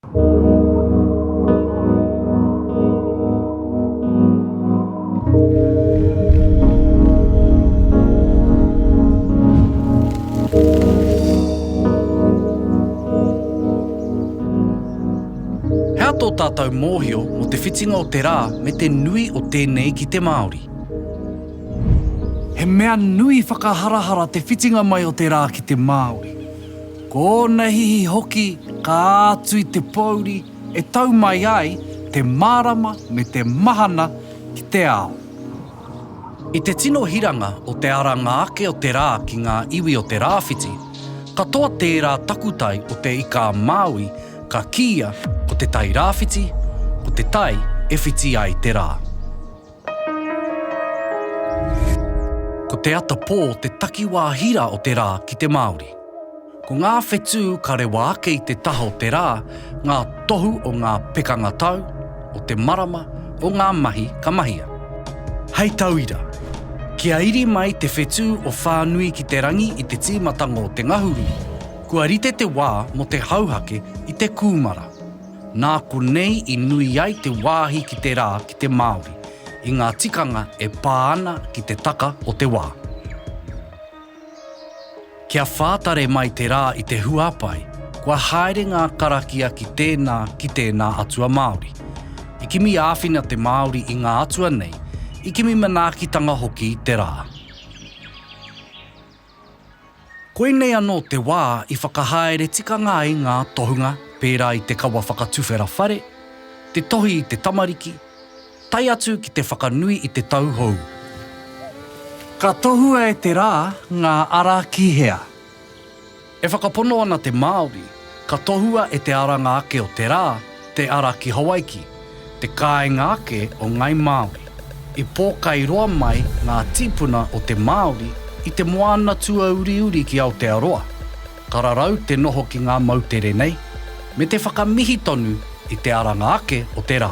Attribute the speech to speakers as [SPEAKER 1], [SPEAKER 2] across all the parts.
[SPEAKER 1] Hea tō tātou mōhio mō te whitinga o te rā me te nui o tēnei ki te Māori? He mea nui whakaharahara te whitinga mai o te rā ki te Māori. Ko ōna hihi hoki ka ātu i te pōuri e tau mai ai te mārama me te mahana ki te ao. I te tino hiranga o te aranga ake o te rā ki ngā iwi o te rāwhiti, katoa tērā takutai o Te Ika-a-Māui ka kīia ko te tai rāwhiti, ko te tai e whiti ai te rā. Ko te ata pō te takiwā hira o te rā ki te Māori. Ko ngā whetū ka rewa ake i te taha o te rā, ngā tohu o ngā pekanga tau, o te marama, o ngā mahi ka mahia. Hei tauira, kia iri mai te whetū o Whānui ki te Rangi i te tīmatanga o te ngahuru, kua rite te wā mō te hauhake i te kūmara. Nā konei i nui ai te wāhi ki te rā ki te Māori, i ngā tikanga e pā ana ki te taka o te wā. Kia whātare mai te rā i te huapae, kua haere ngā karakia ki tēnā, ki tēnā atua Māori. I kimi āwhina te Māori i ngā atua nei, i kimi manaakitanga hoki te rā. Koinei anō te wā i whakahaere tikanga ai ngā tohunga pērā i te kawa whakatuwhera whare, te tohi i te tamariki, tae atu ki te whakanui i te tau hou. Ka tohua e te rā ngā ara ki hea? E whakapono ana te Māori. Ka tohua e te aranga ake o te rā te ara ki Hawaiki, te kāinga ake o Ngāi Māori. I pōkai roa mai ngā tīpuna o te Māori i te moana tuauriuri ki Aotearoa, ka rarau te noho ki ngā moutere nei, me te whakamihi tonu I te aranga ake o te rā.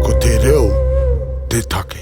[SPEAKER 1] Ko te reo te take.